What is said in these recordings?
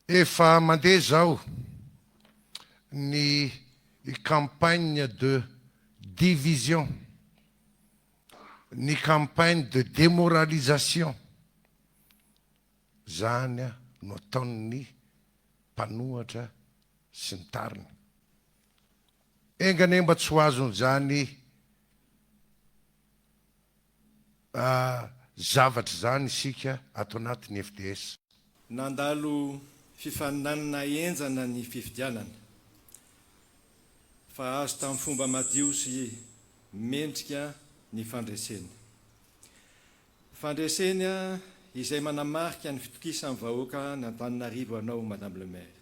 Efa mandeha izao ny campagne de division, ny campagne de demoralisation, izany no ataon'ny mpanohatra sy ny tariny. Enga anie mba tsy ho azon'izany zavatra izany isika ato anatin'ny FDS. Nandalo fifaninanana henjana ny fifidianana fa azo tamin'ny fomba madio sy mendrika ny fandresena. Fandresena izay manamarika ny fitokisan'ny vahoaka an'Antananarivo anao Madame le Maire.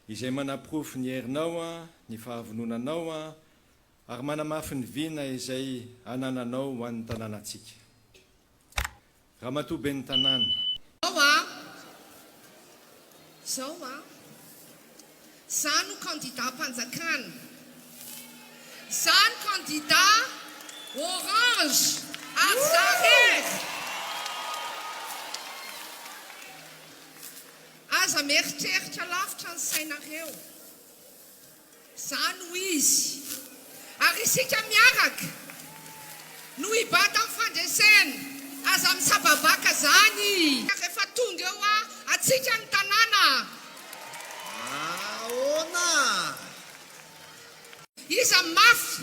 Izay manaporofo ny herinao, ny fahavononanao Ary manamafy ny vina izay anananao ho an'ny tanànantsika. Ramatoa Ben'ny Tanàna. Zao a! Zao a! Za no candidat am-panjakana. Za no candidat orange ary za rery. Aza mieritreritra lavitra ny sainareo. Izaho no izy. Ary isika miaraka no hibata amin'ny fandresena. Aza misababaka izany. Rehefa tonga eo antsika ny tanàna. Ahoana? Iza mafy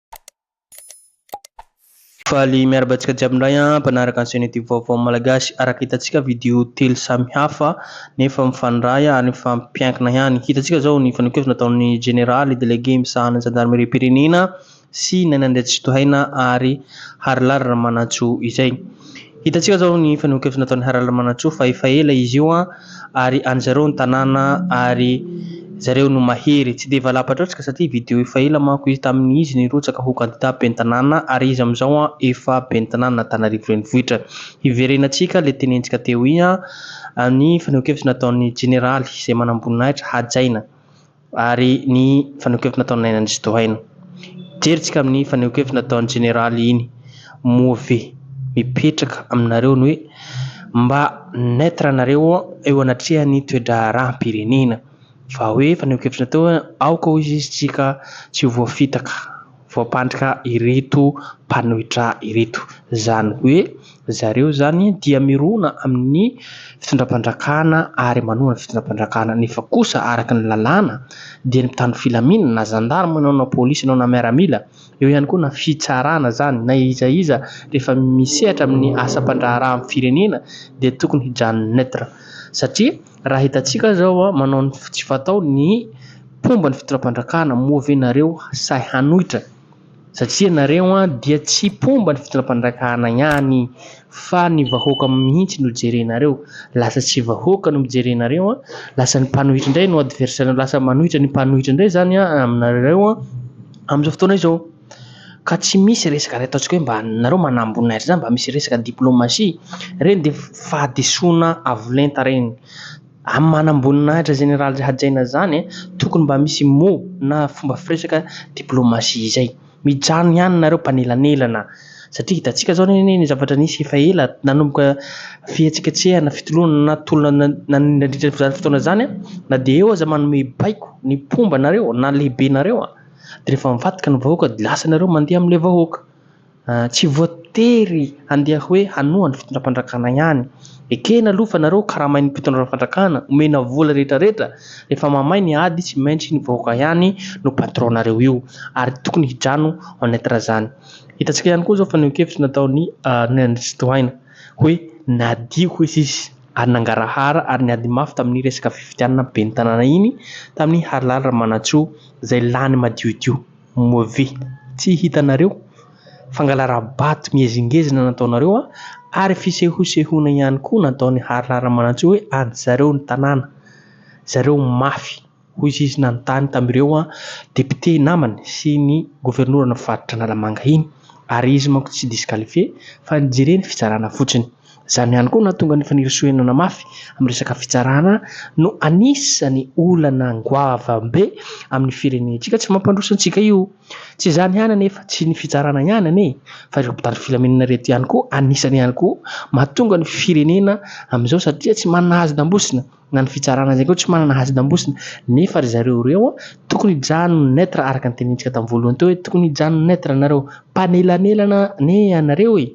Faly miaraba antsika jiaby indray an, mpanaraka ny chaîne youtube vaovao malagasy, araka hitantsika video telo samy hafa nefa mifandray ary mifampiankina ihany, hitantsika zao ny fanehoankevitra nataon'ny jeneraly délégué misahana ny zandarimeriam-pirenena sy Naina Andriatsitohaina ary Harilaly Ramanantsoa izay. Hitantsika zao ny fanehoan-kevitra nataon'i Haralamanantsoa fa efa ela izy io an, ary an'i zareo ny tanàna ary zareo no mahery. Tsy dia valam-patratra satria video efa ela manko izy tamin'ny izy nirotsaka ho kandida ben'ny tanàna ary izy amin'izao an efa ben'ny tanànan'Antananarivo renivohitra. Hiverenantsika le tenentsika teo ian, ny fanehoan-kevitra nataon'ny jeneraly izay manam-boninahitra hajaina. ary ny fanehoan-kevitra nataon'i Naina Ndrizo Tohaina. Jerintsika amin'ny fanehoan-kevitra nataon'ny Jeneraly iny moa ve mipetraka aminareo ny hoe mba neutre anareo eo anatrehan'ny toe-draharaham-pirenena fa hoe fanehoan-kevitra natao hoe aoka hoy izy tsika tsy ho voafitaka. voampandrika ireto mpanohitra ireto. Izany hoe zareo izany dia mirona amin'ny fitondram-pandrakana ary manohana ny fitondram-pandrakana nefa kosa araka ny lalàna dia ny mpitandro filaminana na zandarma ianao na polisy ianao na miaramila, eo ihany koa na fitsarana izany na iza iza rehefa misehatra amin'ny asam-pandraharahan'ny firenena dia tokony hijanona neutre satria. Raha hitantsika zao manao ny tsy fatao ny mpomba ny fitondram-pandrakana moa ve nareo sahy hanoitra satria nareo dia tsy mpomba ny fitondram-pandrakana ihany fa ny vahoaka mihitsy no jerenareo lasa tsy vahoaka no mijerenareo lasa ny mpanohitra indray no adversaire lasa manohitra ny mpanohitra indray zany aminareo amin'izao fotoana izao. Ka tsy misy resaka ry ataontsika hoe mba nareo manamboninahitra zany mba misy resaka diplomatie reny dia fahadisoana avo lenta reny amin'ny manamboninahitra général hajaina zany tokony mba misy mot na fomba firesaka diplomatie izay mijanona ihany nareo mpanelanelana satria hitantsika zao anie ny zavatra nisy efa ela nanomboka fihetsiketsehana fitolona na tolona nandritra izany fotoana izany na dia eo aza manome baiko ny mpomba anareo na lehibenareo de rehefa mivadika ny vahoaka de lasa nareo mandeha amle vahoaka tsy voatery handeha hoe hanoha ny fitondram-pandrakana ihany ekena aloha fa nareo karamain'ny mpitondra fandrakana omena vola rehetra rehetra rehefa mamay ny ady tsy maintsy ny vahoaka ihany no patron nareo io ary tokony hidrano en être zany hitantsika ihany koa zao fa neo-kevitra nataon'ny Andrianandriantsy Tohaina hoe nadio hoe sisy ary nangarahara ary niady mafy tamin'ny resaka fifidianana ben'ny tanàna iny tamin'ny Harilaly Ramanantsoa zay lany madiodio move tsy hitanareo fangalarabato miezingezina nataonareo a ary fisehosehoana ihany koa nataon'i Harla Ramanantsoa hoe an'i zareo ny tanàna zareo mafy hoy izy izy nanontany tamin'ireo député namany sy ny governoran'ny faritra Analamanga iny ary izy manko tsy disqualifié fa nijeren'ny fitsarana fotsiny. Izany ihany koa no nahatonga an'i Fanirisoa henana mafy amin'ny resaka fitsarana no anisan'ny olana goavam-be amin'ny firenentsika. Tsy mampandroso antsika io. Tsy izany ihany anefa, tsy ny fitsarana ihany anie e, fa ireto mpitandro filaminana ireto ihany koa anisany ihany koa mahatonga ny firenena amin'izao satria tsy manana hazon-dambosina na ny fitsarana izay koa tsy manana hazon-dambosina nefa ry zareo ireo tokony hijanona neutre araka ny tenenintsika tamin'ny voalohany teo hoe tokony hijanona neutre nareo, mpanelanelana anie ianareo e!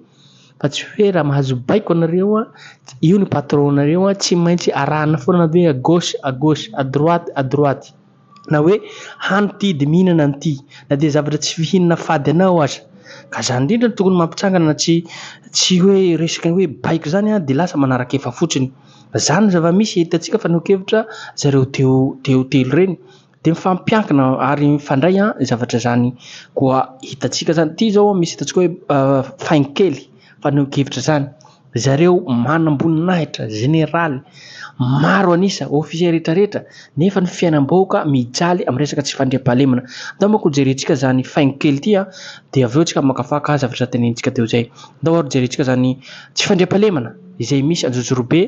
Fa tsy hoe raha mahazo baiko anareo, io ny patron nareo, tsy maintsy arahana foana anareo hoe à gauche, à gauche, à droite, à droite. Na hoe hany ity dia mihinana an'ity. Na dia zavatra tsy fihinana fady anao aza. Ka izany indrindra no tokony mampitsangana tsy tsy hoe resaka hoe baiko izany dia lasa manarak'efa fotsiny. Izany ny zava-misy hitantsika fanehoan-kevitra zareo teo teo telo ireny. Dia mifampiankina ary mifandray ny zavatra izany koa hitantsika izany. Ity izao misy hitantsika hoe faingo kely, fanehoan-kevitra izany. Ry zareo manam-boninahitra, jeneraly, maro an'isa, ofisier rehetra rehetra, nefa ny fiainam-bahoaka mijaly amin'ny resaka tsy fandriampahalemana. Ndao manko hojerentsika izany faingo kely ity dia avy eo isika hamakafaka zavatra tenenintsika teo izay. Ndao ary hojerentsika izany tsy fandriampahalemana izay misy anjozorobe.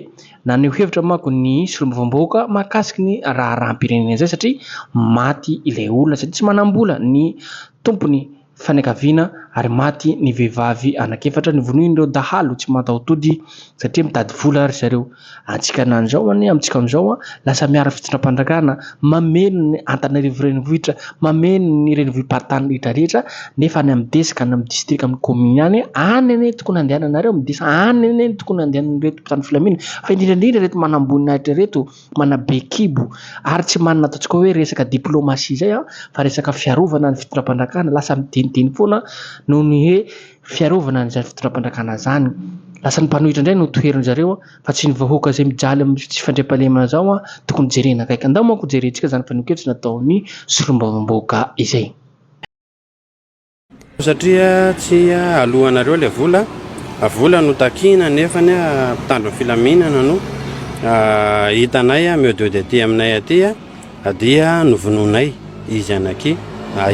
Naneho hevitra manko ny solombavambahoaka mahakasika ny raharaham-pirenena izay satria maty ilay olona satria tsy manam-bola ny tompon'ny fianakaviana ary maty ny vehivavy anankiefatra novonoin'ireo dahalo tsy mataho-tody satria mitady vola ry zareo. Antsika na an'izao anie amintsika amin'izao lasa miaro fitondram-panjakana, mameno ny Antananarivo renivohitra, mameno ny renivohi-paritany rehetrarehetra nefa any amin'ny desy ka any amin'ny distrika, amin'ny kaominy any, any anie tokony handehananareo midesa, any anie tokony handehanan'ireto. mpitandro filaminana fa indrindra indrindra ireto manamboninahitra ireto, manabe kibo ary tsy manana ataontsika hoe resaka diplomasia izay fa resaka fiarovana ny fitondram-panjakana, lasa midinidiny foana noho ny hoe fiarovana an'izany fitondram-panjakana izany, lasa ny mpanohitra indray no toherin-dry zareo fa tsy ny vahoaka izay mijaly amin'ny tsy fandriampahalemana izao tokony jerena akaiky, andao manko hojerentsika izany fanehoan-kevitra nataon'ny solombavambahoaka izay. Satria tsy aloanareo ilay vola, vola no takiana nefa mpitandro ny filaminana no hitanay mieo de de aty aminay aty dia novonoinay izy anaky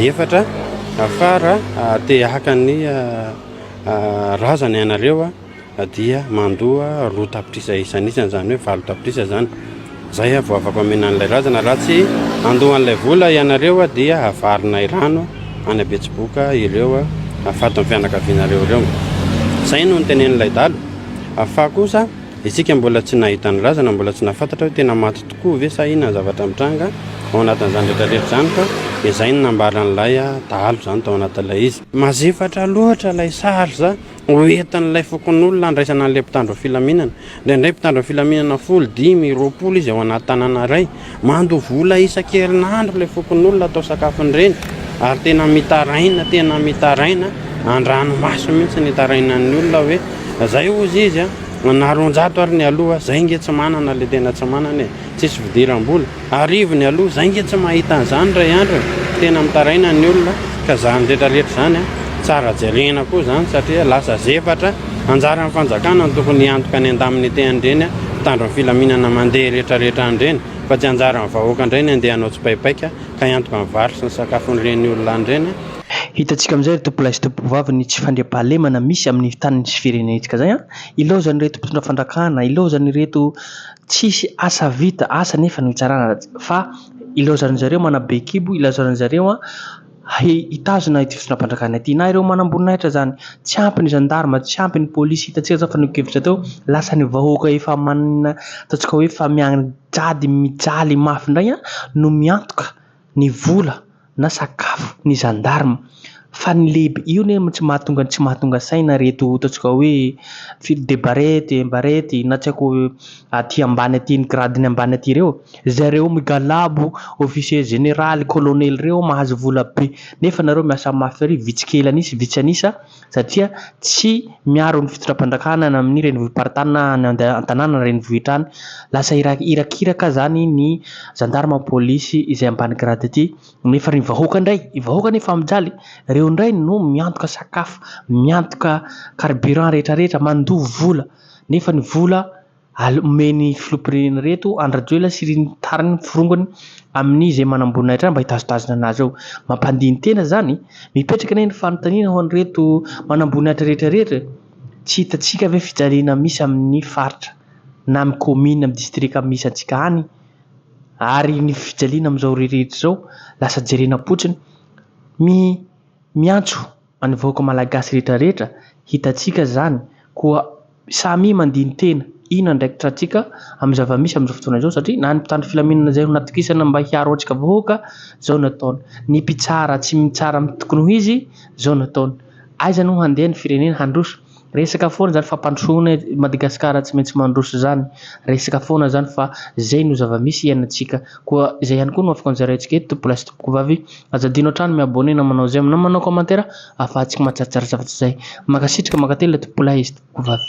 efatra afara te haka ny razana ianareo. dia mandoa roa tapitrisa isan'isany, izany hoe valo tapitrisa izany. Izay aho vao afa-pamena an'ilay razana. Raha tsy handoa an'ilay vola ianareo dia havarinay rano any Betsiboka ireo hafaty ny fianakavianareo ireo. Izay no nitenenin'ilay dahalo. Fa kosa isika mbola tsy nahita ny razana, mbola tsy nahafantatra hoe tena maty tokoa ve sa inona ny zavatra mitranga ao anatin'izany rehetrarehetra izany fa izay no nambaran'ilay dahalo izany tao anatin'ilay izy. Mazefatra loatra ilay sary izany. Ho entin'ilay fokonolona handraisana an'ilay mpitandro ny filaminana. Indraindray mpitandro ny filaminana folo, dimy, roapolo izy ao anaty tanàna iray. Mandoa vola isan-kerinandro ilay fokonolona atao sakafon-dreny ary tena mitaraina, tena mitaraina, an-dranomaso mihitsy no itarainan'ny olona hoe izay hozy izy an, na roanjato ary ny aloha, izay ange tsy manana ilay tena tsy manana e. Tsisy fidiram-bola. Arivony aloha. Zay nge tsy mahita an'izany ray andry e! Tena mitaraina ny olona ka zany retrareta zany a! Tsara jerena koa zany satria lasa zefatra. Anjaran'ny fanjakana no tokony hiantoka ny andamin'ny tehan'ireny mpitandro ny filaminana mandeha retraretra an'ireny fa tsy anjaran'ny vahoaka indray ny andeha hanao tsipaipaika ka hiantoka ny vary sy ny sakafon'ireny olona an'ireny. Hitantsika amin'izay ry tompolahy sy tompovavy ny tsy fandriampahalemana misy amin'ny taniny sy firenentsika izay an! Ilaozan'ireto mpitondra fandrakana, ilaozan'ireto Tsisy asa vita, asa nefa no hitsarana fa ilaozan'izy ireo manabe kibo, ilaozan'izy ireo hitazona ity fitondram-panjakana ity na ireo manamboninahitra izany. Tsy ampy ny zandarima, tsy ampy ny polisy, hitantsika izao fanehoan-kevitra teo, lasa ny vahoaka efa manana ataontsika hoe efa mianjady mijaly mafy indray no miantoka. ny vola na sakafo ny gendarme fa ny lehibe io ne tsy mahatonga tsy mahatonga saina reto ataontsika hoe firy de barety un barety na tsy aiko aty ambany aty ny grade ny ambany aty reo zareo migalabo officier général colonel reo mahazo vola be nefa nareo miasa mafy ary vitsy kely anisa vitsy anisa satria tsy miaro ny fitondram-panjakana any amin'ny renivohi-paritany na any an-tanàna na renivohitra any. Lasa irakiraka izany ny zandarma, polisy izay ambany grade ity nefa ny vahoaka indray, ny vahoaka anie efa mijaly, ireo indray no miantoka sakafo, miantoka carburant rehetra rehetra, mandoa vola nefa ny vola Aleo omen'ny filoham-pirenena ireto Andry Rajoelina sy ireny tariny ny forongony amin'ny izay manamboninahitra azy mba hitazotazona an'azy eo. Mampandini-tena izany e! Mipetraka anie ny fanontaniana ho an'ireto manamboninahitra rehetra rehetra e! Tsy hitantsika ve fijaliana misy amin'ny faritra na amin'ny kaominina, amin'ny distrika misy antsika any? Ary ny fijaliana amin'izao rehetra izao lasa jerena am-potsiny? Mi, miantso. Any vahoaka malagasy rehetra rehetra hitantsika izany koa samia mandini-tena ino andraikitra tsika amin'ny zava-misy amin'izao fotoana izao satria na ny mpitandro filaminana izay no natokisana mba hiaro antsika vahoaka zao no ataony, ny mpitsara tsy mitsara amin'ny tokony ho izy zao no ataony, aiza no handeha ny firenena handroso Resaka foana zany fampandrosoana eto Madagascar tsy maintsy mandroso zany resaka foana zany fa zay no zavamisy iainantsika koa zay ihany koa no afaka nozaraintsika eto tompolahy sy tompokovavy aza adino hatrany mi-abonner na manao j'aime na manao commentaire afahantsika mahatsaratsara zavatra zay mankasitraka mankatelina tompolahy sy tompokovavy